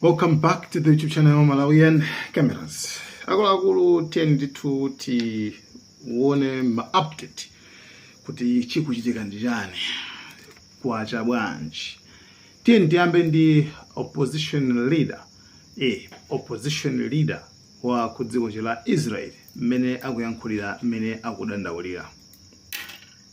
Welcome back to the YouTube channel Malawian Cameras. Akuluakulu tiyeni ndithu tione ma update kuti chikuchitika ndi chani kwacha bwanji. Tiyeni tiyambe ndi opposition leader eh, opposition leader wa ku dziko la Israel mmene akuyankhulira mmene akudandaulira.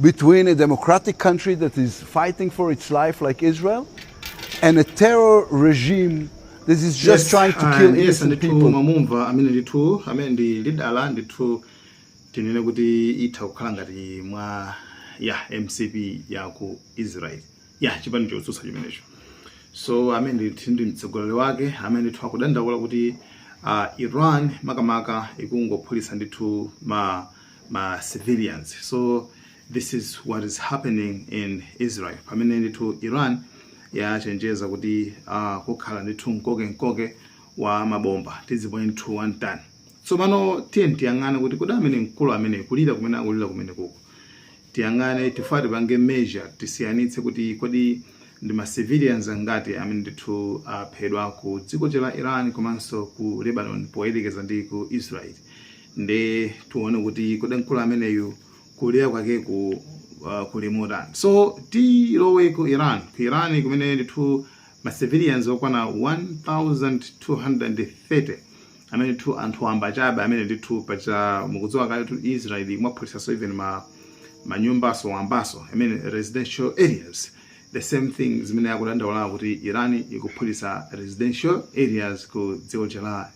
between a democratic country that is fighting for its life, like Israel, and a terror regime that is just trying to kill innocent people. mwamumva amene ndithu amene ndi leader ndithu tinene kuti itha kukhala ngati mwa ya mcp ya ku israel ya chipani chotsutsa chimenecho so amene ndithu ndi mtsogoleri wake amene ndithu akudandaula kuti uh, iran makamaka ikungophulitsa ndithu ma ma civilians so this is what is happening in israel pamene ndithu iran yachenjeza kuti uh, kukhala ndithu mkoke mkoke wa mabomba tiziponya ndithu one ton tsopano tiyeni tiyang'ane kuti kodi amene mkulu amene kulira kumene akulira kumene kuku tiyang'ane tifuna tipange measure tisiyanitse kuti kodi ndi ma civilians angati amene ndithu aphedwa ku dziko la iran komanso ku lebanon poyerekeza ndi ku israel nde tione kuti kodi mkulu ameneyu kulira kwakeku uh, kuli motani so tilowe ku iran ku iran kumene ndithu ma civilians okwana 1230 amene ndithu anthu wamba chabe amene ndithu paja mukudziwa kale tu israel imaphulitsaso even manyumbaso wambaso i mean residential areas the same thing zimene akudandaulawo kuti iran ikuphulitsa residential areas ku dziko la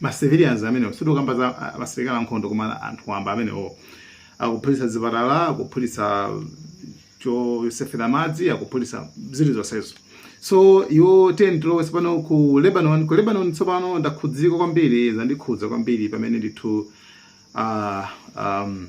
ma civilians amenewo sitikukamba za ah, asilikali ankhondo koma anthu wamba amenewo akuphulitsa zipatala akuphulitsa chosefera madzi akuphulitsa zili zonsezo so iwo tiyeni tiloweso pano ku lebanon ku lebanon tsopano ndakhudzika kwambiri zandikhudza kwambiri pamene ndithu ah, um,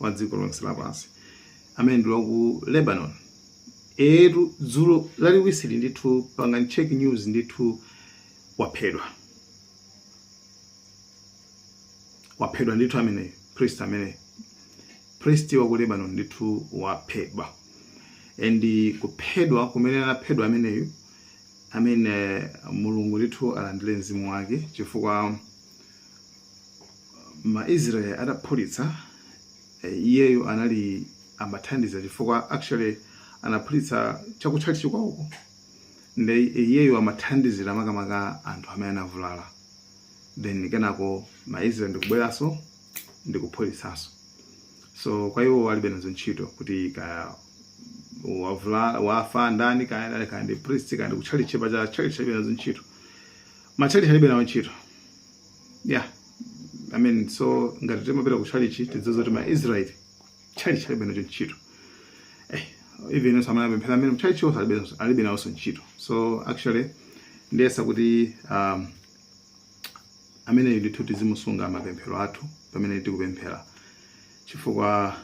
wa dziko lonse lapansi amene ndi wa ku lebanon etu dzulo Lachiwiri ndithu pangani check news ndithu waphedwa waphedwa ndithu ameneyi priest ameneyi priest wa ku lebanon ndithu waphedwa and kuphedwa kumene anaphedwa ameneyu amene mulungu ndithu alandire mzimu wake chifukwa ma Israel ataphulitsa eh, iyeyo anali amathandiza chifukwa actually anaphulitsa chakutchalitchi kwawoko ndiye iyeyo amathandizira makamaka anthu amene anavulala then kenako ma Israel ndikubweranso ndikuphulitsanso so kwa iwo alibe nazo ntchito kuti kaya wavula- wafa ndani kaya ndani kaya ndi priest kaya ndi kutchalitchi pa tcha church alibe nazo ntchito matchalitchi alibe nawo ntchito yeah i mean so ngati timapita ku chalichi tidziwe zoti ma israel chalichi alibe nacho ntchito eh, even onse amene apemphera mmene mchalichi onse alibe nazo- alibe nawonso ntchito so actually ndiyesa kuti um, ameneyo ndithu tizimusunga m'mapemphero athu pamene tikupemphera chifukwa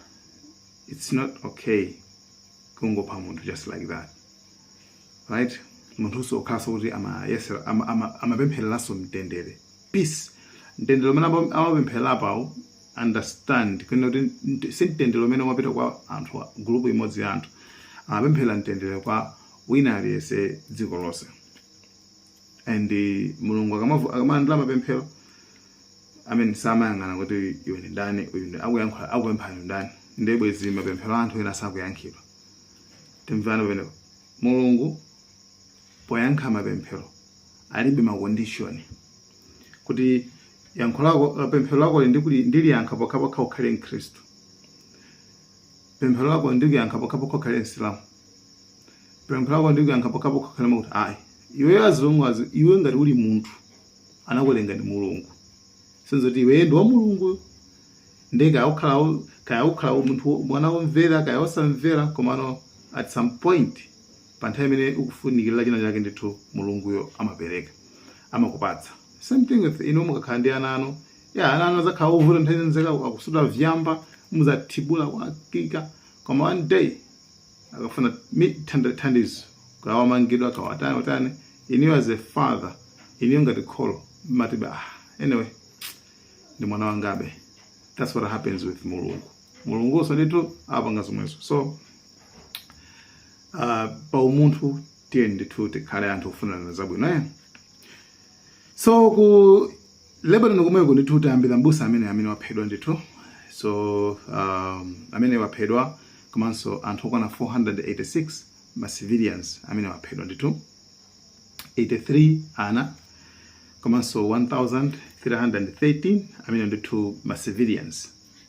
it's not okay kungopha munthu just like that right munthunso okhalanso kuti amayesera ama- ama- amapemphereranso mtendere peace mtendere umene ama- amapempherera pawo understand kunena kuti nt- si mtendere umene umapita kwa anthu a- group imodzi ya anthu amapemphera mtendere kwa wina aliyense dziko lonse and eh, mulungu akamavu- akamalandira mapemphero amene samayang'ana kuti iwe ndi ndani uyu ndi akuyankhula akupempha ndi ndani ndiye bwezi mapemphero a anthu ena sakuyankhidwa Timvane pamenepo. Mulungu poyankha mapemphero alibe ma condition kuti yankho lako eh, pemphero lakoli ndikuli- ndiliyankha pokhapokha ukhale mkhristu pemphero lako ndikuliyankha pokhapokha ukhale msilamu pemphero lako ndikuyankha pokhapokha ukhale mwakuti ayi iweyo as long azi- iwe ngati uli munthu anakulenga ndi mulungu sizoti iweyo ndi wa mulungu nde kaya ukhala wo- kaya ukhala wo- munthu wo- mwana womvera kaya wosamvera komano at some point pa nthawi imene ukufunikirira china chake ndithu mulunguyo amapereka amakupatsa same thing with inu mukakhala ndi ana anu ya ana anu azakhala ovuta nthawi zonse akusuta vyamba muzathibula kwakika koma one day akafuna mi- thanda- thandizo kaya wamangidwa kaya watani watani inuyo as a father inuyo ngati kholo mmati be ah, anyway ndi mwana wangabe that's what happens with mulungu mulungunso ndithu apanga zomwezo so uh, pa umunthu tiyeni ndithu tikhale anthu ofunirana zabwino eh? so ku Lebanon komweko ndithu tayambira mbusa amene amene waphedwa ndithu so um, amene waphedwa komanso anthu okwana 486 ma civilians amene waphedwa ndithu 83 ana komanso 1313 amene ndithu ma civilians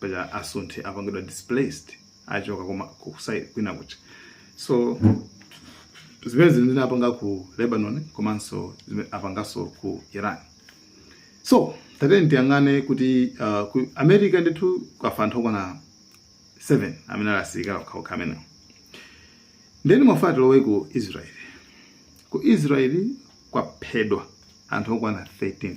paja asunthe apangidwa displaced achoka komwe kuja kupita kwina kuja so zimene zimene zinapanga ku lebanon komanso zimene apanganso ku iran so tatiyeni tiyang'ane kuti uh, ku america ndithu kwafa anthu okwana 7 amene ali asilikali okhaokha amenewo ndeni mwafa tilowe ku israeli ku israeli kwaphedwa anthu okwana 13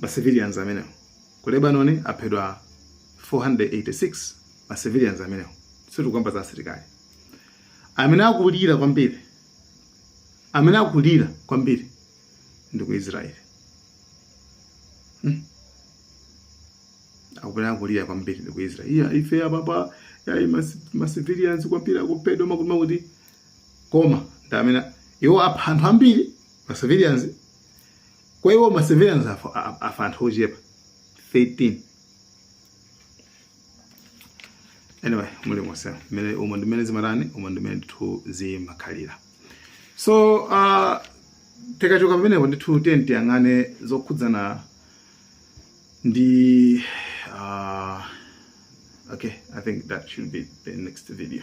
ma civilians amenewo ku Lebanon aphedwa 486 ma civilians amenewo sitikukamba za asilikali amene akulira kwambiri amene akulira kwambiri ndi ku Israel hmm? akulira kulira kwambiri ndi ku Israel iya ife apapa yayi ma civilians kwambiri akuphedwa makuti kuti koma ndi amene iwo apha anthu ambiri ma civilians kwa iwo ma civilians afa, a- afa anthu ochepa 13 anyway mulimonse mmenemo umo ndimene zimatani umo ndimene ndithu zimakhalira so uh, tikachoka pamenepo ndithu tiyeni tiyang'ane zokhudzana ndi uh, okay i think that should be the next video